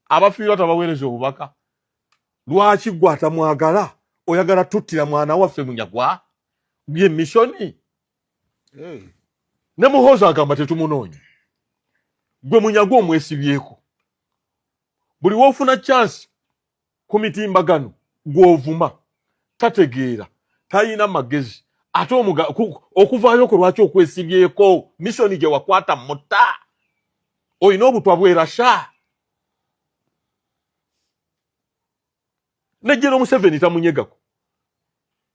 abafiirwa tabaweereza obubaka lwaki gwe atamwagala oyagala tuttira mwana waffe munyagwa ye misoni ne muhoozi agamba tetumunoonya gwe munyagwa omwesibyeko buli wofuna chansi ku mitimbagano gw'ovuma tategeera talina magezi ate okuvaayo kwe lwaki okwesibyeko misoni gye wakwata mutta olina obutwa bwerasha nejjera omuseveni tamunyegako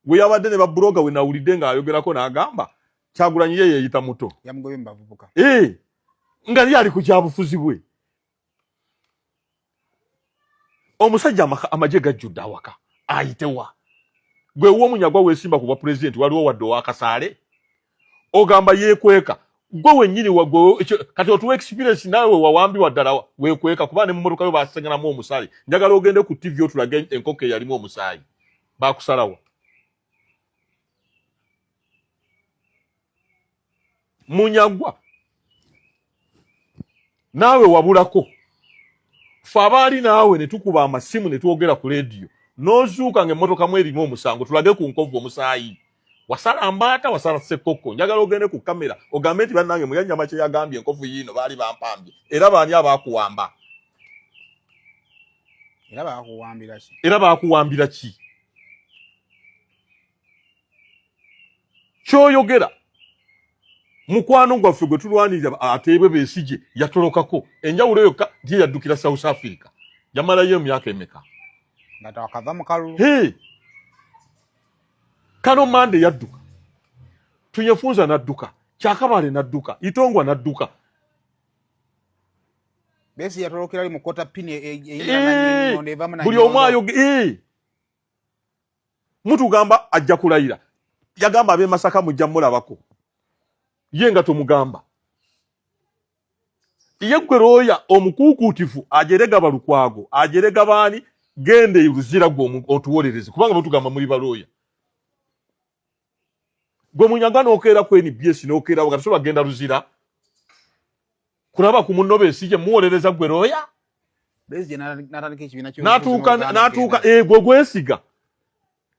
gwe yabadde ne babuloga we nawulidde ng'ayogerako n'agamba kyagulanyi ye yeeyita muto ee eh, nga lyali ku kyabufuzi bwe omusajja amagye gajjudde awaka ayitewa gwe womunyagwa wesimba ku bwa pulezidenti waliwo wadde owakasaale ogamba yekweka gwe wenyini kati otuwa experience nawe wewawambiwa ddala wekweka kuba ne mumotoka yo basenganamu omusaayi njagala ogende ku tv otulage enkoko eyalimu omusaayi bakusalawa munyagwa naawe wabulako fe abaali naawe ne tukuba amasimu ne twogera ku leediyo n'ozuuka ng'emmotoka mu erimu omusango tulage ku nkovu omusaayi wasala mbaata wasala ssekkokko njagala ogende ku kamera ogambe nti bannange muyanyama kye yagambye enkovu yiino baali bampambye era baani abaakuwamba era baakuwambira ki kyoyogera mukwano gwaffe gwe tulwanirira ateebwe besigye yatolokako enjawulo yokka nti yaddukira south africa yamalayo emyaka emeka kano mande yadduka tunyefunza nadduka kyakabale nadduka itongwa nadduka buli omu ayoge mutugamba ajja kulayira yagamba abe masaka mujja mulabako ye nga tomugamba ye gwe looya omukuukuutifu ajerega balukwago ajerega baani genda eruzira gwe otuwolereze kubanga mutugamba muli balooya gwe munyanga nokeera ku nbs nokeera nga tosobola genda luzira kulaba ku munno besi gye muwolereza gwe looya natuuka egwe eh, gwesiga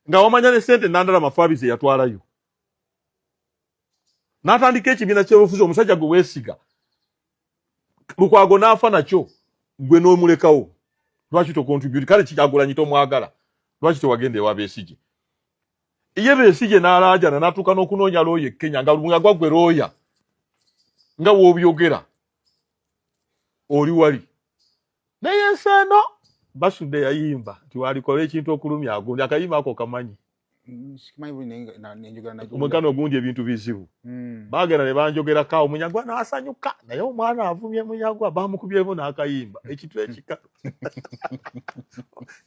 nga wamanya ne sente nandala mafaabi ze yatwalayo natandika ekibiina kyebufuzi omusajja gwe wesiga lukwago naafa nakyo gwe nomulekawo lwaki tokontribute kale kyagulanyi tomwagala lwaki tewagenda ewa besige ye besigye n'alaajana n'atuuka n'okunoonya looya e kenya nga lungagwa gwe looya nga woobyogera oli wali naye ensi eno basudde yayimba nti walikola ekintu okulumya agundi akayimba ako kamanyi omugano ogundi ebintu bizibu hmm. bagenda ne banjogerako awo munyagwa n'asanyuka naye omwana avumye munyagwa bamukubyemu n'akayimba ekintu ekikalu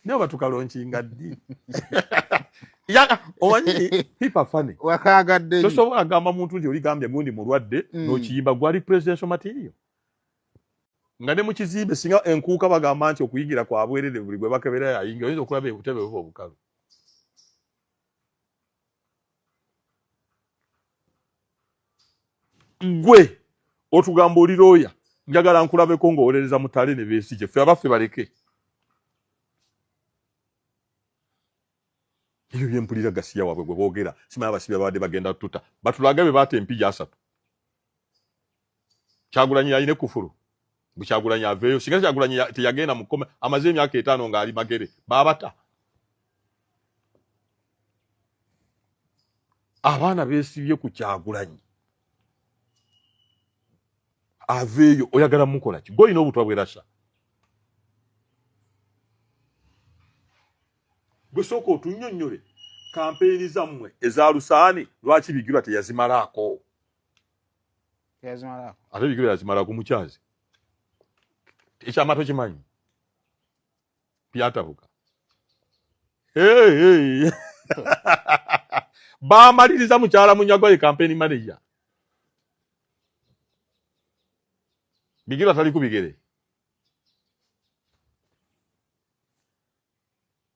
naye oba tukalonkinga ddi owanyi pipa fane wakagadde tosobola agamba muntu nti oligambye gundi mulwadde mm. nokiyimba gwali presidential material nga ne mukizimbe singa enkuuka bagamba nti okuyigira kwabwerere buli gwe bakebera yayingira oyinza okulaba ebutebe buba obukalu gwe otugamba oli looya njagala nkulabeko ngaowolereza mutale ne besigye fe abaffe baleke ebyo byempulira gasiya wabwe gwe boogera simanya abasibi ababadde bagenda tuta batulaga be baata empija asatu kyagulanyi yalina ekufulu mbu kyagulanyi aveeyo singa kyagulanyi teyagenda mukome amaze emyaka etaano ng'ali magere baabata abaana beesibye ku kyagulanyi aveeyo oyagala mukola ki golina obutwa bwerasa gwe sooka otunyonnyole kampeyini zammwe eza lusaani lwaki bigirwa teyazimalaako ate bigiro yazimalako mukyazi ekyama tokimanyi byatabuka bamaliriza mukyala munyagwa ye kampeni maneja bigiro atali ku bigere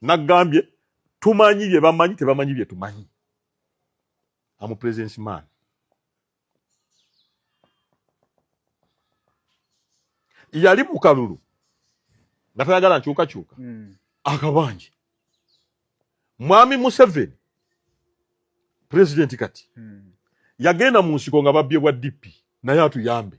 nagambye tumanyi bye bamanyi tebamanyi bye tumanyi amu presence man yali mu kalulu nga tayagala nkyukakyuka mm. akabanje mwami museveni pulezidenti kati mm. yagenda mu nsiko nga babbye bwa dp naye atuyambe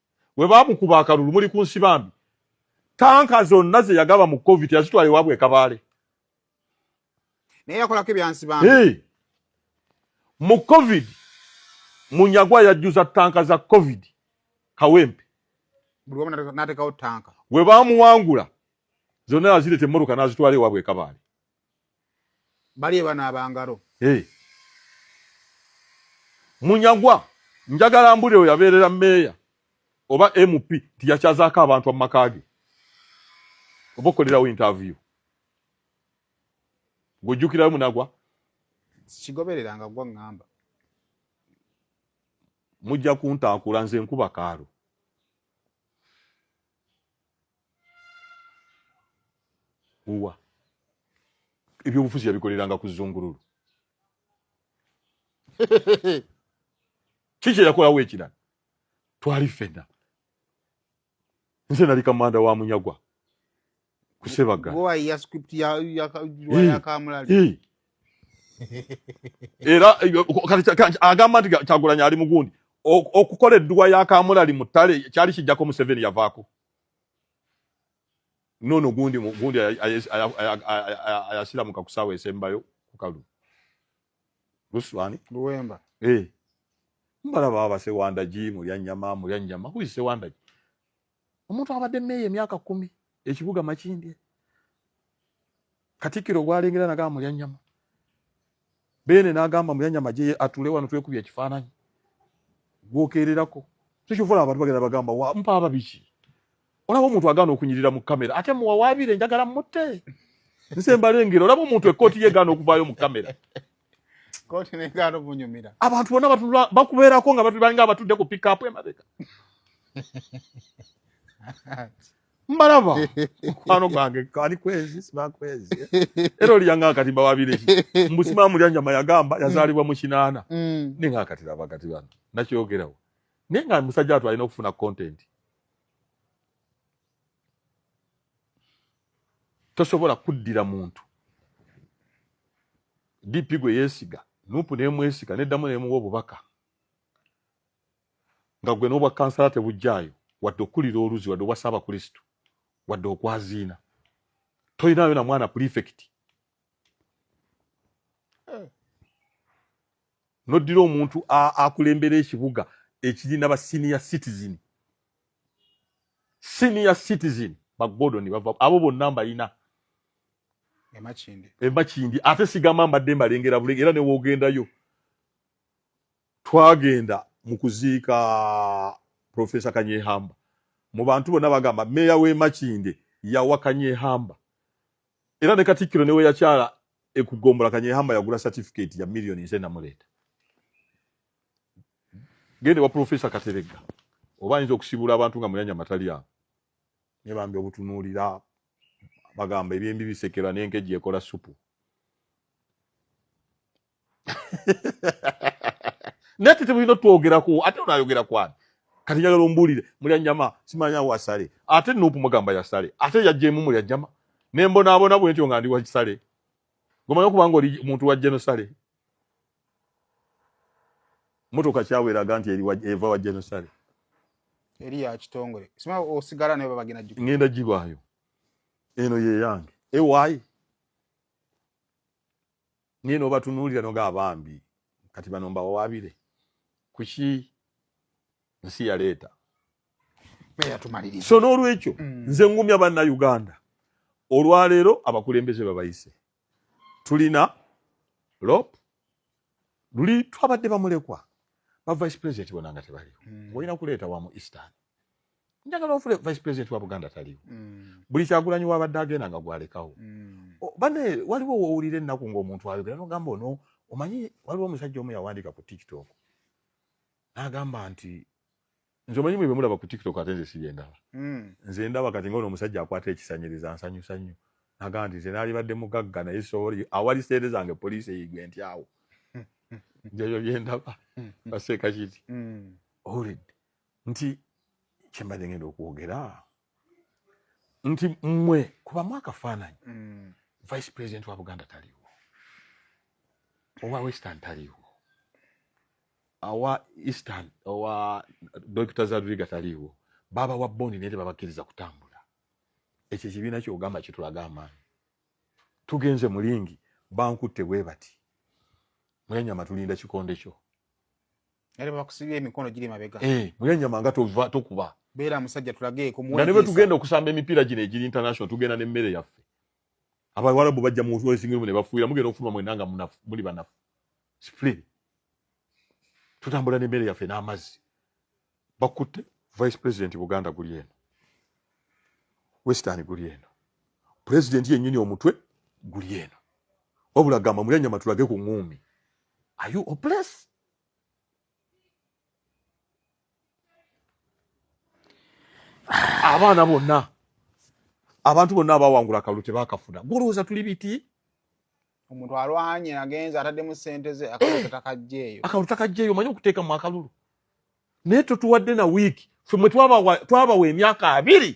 we baamukuba akalulu muli ku nsi bambi tanka zonna ze yagaba mu covid yazitwala ewaabwe ekabaale naye yakolako ebyansi bambi hey. mu covid munyagwa yajjuza tanka za covid kawempe natekawo tanka we baamuwangula zonna yazireta emmotoka n'azitwala ewaabwe ekabaale bali ebanaaba ngalo hey. munyagwa njagala mbulire we yabeerera meeya oba mp nti yakyazaako abantu amumaka ge oba okolerawo interview ng'ojjukirayo munagwa kigoberera nga gwa ŋŋamba mujja kuntaakula nze nkuba kaalo uwa ebyobufuzi yabikoleranga ku zungululu kiki yakolawo ekirala twali ffenna nze nali kamanda wa munyagwa kusebaga era agamba nti kyagulanya ali mugundi okukola edduwa ya kamulali mu ttale kyali kijjako museveni yavaako nono gundi gundi ayasira muka kusawa esembayo kukalu luswani luwemba eh mbala baba se wanda ji mu ya nyama mu ya nyama ku se wanda ji omuntu abade meye myaka 10 ekibuga makindi katikiro gwalengera na gamu ya nyama Beene n'agamba Muyanya Magye ye atule wano twekubye ekifaananyi gwokeererako tekyovola abantu bagenda bagamba wa mpa ababiki olaba omuntu agaana okunyirira mu kamera ate muwawaabire njagala mutte nse mbalengera olaba omuntu ekkooti ye gaana okuvaayo mu kamera kkooti negaana omunyumira abantu bona batula bakubeerako nga balinga abatudde ku pikapu emabega mbalaba mukwano gwange kali kwezi siba kwezi era oliyanga akati bawabire mbusimaa mulya nyama yagamba yazaalibwa mu kinaana mm. ninga akati laba kati bano nakyogerawo naye nga musajja watu alina okufuna content tosobola kuddira muntu dp gwe yeesiga nupu nemwesiga neddamu nemuwa obubaka nga gwe n'obwa kansala tebujjaayo wadde okukulira oluzi wadde obwa ssaabakristu wadde okwaziina tolinayo na mwana pulifekiti eh. noddira omuntu akulembera ekibuga ekirina ba senior citizen senior citizen bagordon bava abo bonna mbalina emakindi ate sigamba mbadde mbalengera bulenge era newogendayo Twagenda mu kuziika Professor Kanyehamba. Mu bantu bonna bagamba meeya w'e Makindye yawa Kanyehamba era ne Katikkiro ne we yakyala ekugombola Kanyehamba yagula certificate ya million nze namuleeta. Gende wa Professor Kateregga oba ayinza okusibula abantu nga muyanya matali awo ne bambi obutunuulira bagamba ebyembi bisekera n'enkejje ekola supu. naye tete bulina twogerako ate onayogera kwani kati njagala ombuulire mulya nyama simanya wasale ate nupu mugamba yasale ate yajjemu mulya jama nembonaabona bwentyo nga ndi wakisale gomanyi okubanga oli muntu wa genosale motoka kyawe eraga nti eva wa genosale eri ya kitongole sima osigala naye babagenda jiko ngenda jibwayo eno ye yange ewayi naye nobatunulira noga abambi kati bano mbawawabire kuki nsi yaleeta so n'olwekyo mm. nze ngumya banna uganda olwaleero abakulembeze babayise tulina lop luli twabadde bamulekwa ba vice president bona nga tebaliwo mm. olina kuleeta wamu eastern njagala ofule vice president wa buganda taliwo mm. buli kyagulanyi wabadde agenda nga gwalekawo mm. bane waliwo wowulira ennaku ngaomuntu ayogera nogamba ono omanyi waliwo omusajja omu yawandika ku tiktok nagamba nti nze omanyi mwe bemulaba ku tiktok ate nze sibyendaba mm. nze ndaba kati ngaono omusajja akwata ekisanyiriza nsanyusa nnyo nagamba nti nze nalibadde mugagga naye soori awali sente zange poliisi eyigwe nti awo njayo byendaba baseeka kiti owulidde nti kyembadde ngenda okwogera nti mmwe kubamu akafaananyi mm. vice president wa buganda taliwo owa western taliwo awa eastern owa dokita zadviga taliwo baba wa bondi naye tebabakkiriza kutambula ekyo ekibiina kyogamba kitulaga amaanyi tugenze mulingi bankutte bwe bati mwenyama tulinda kikonde kyo Era bakusibye emikono giri mabega. Eh, mulya nyama nga tova tokuba. Bera musajja tulageeko muwe. Nalebe tugenda okusamba emipira gino egiri international tugenda ne mmere yaffe. Aba walabu bajja mu wrestling room ne bafuira mugenda ofuma mwe nanga munafu muli banafu. Split. Tutambula ne mmere yaffe n'amazzi. Bakutte vice president Buganda guli eno. Western guli eno. President yennyini omutwe guli eno. Wabula gamba mulya nyama tulage ku ngumi. Are you hopeless? abaana bonna abantu bonna abawangula kalulu tebakafuna golowooza tuli biti omuntu alwanye agenze ataddemu sente ze akalutakajjeeyo akalutakajjeeyo omanyi okuteeka mu akalulu naye totuwadde na wiiki fe mwe twabawa emyaka abiri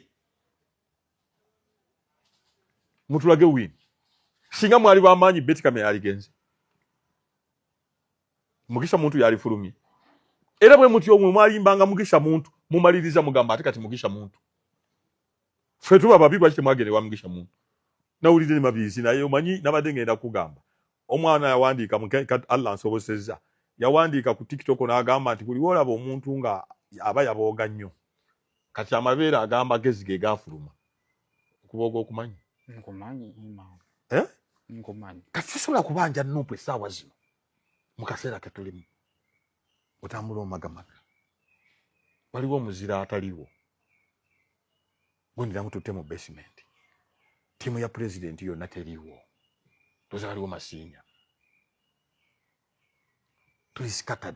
mutulage wini singa mwali bamaanyi betikamera aligenze mugisha muntu yalifulumye era bwe mutyo mwe mwalimbanga mugisha muntu mumaliriza mugamba ate kati mugisha muntu ffe tuba babi lwaki temwagenda ewa mugisha muntu nawulidde ne mabizi naye omanyi nabadde ngenda kugamba omwana yawandiika allah nsobosezza yawandiika ku tiktok n'agamba nti buli wolaba omuntu nga aba yabooga nnyo kati amabeere ag'amagezi ge gaafuluma okuba ogw'okumanyi eh? kati tosobola kubanja nuupu essaawa zino mu kaseera ke tulimu otambula omagamaga waliwo omuzira ataliwo gwendira mututte mu basementi ttiimu ya pulezidenti yonna teriwo toza waliwo masiinya tuli scattered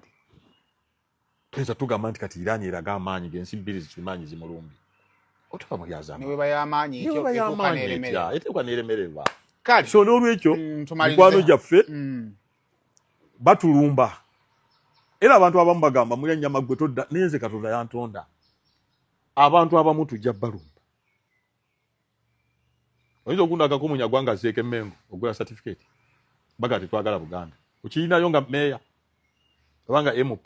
tuyinza tugamba nti kati irani eraga amaanyi gensi bbiri zikimaanyi zimulumbi otuva mu byazamaeteekwa neremererwa kale so n'olwekyo mm, mikwano gyaffe mm. batulumba era abantu abamu bagamba mulya nyama gwe todda naye nze katonda yantonda abantu abamu tujja balumba oyinza okundaga ko munyagwa nga zeeka emengo ogula certificate baga tetwagala buganda okiyinayo nga meeya obanga mp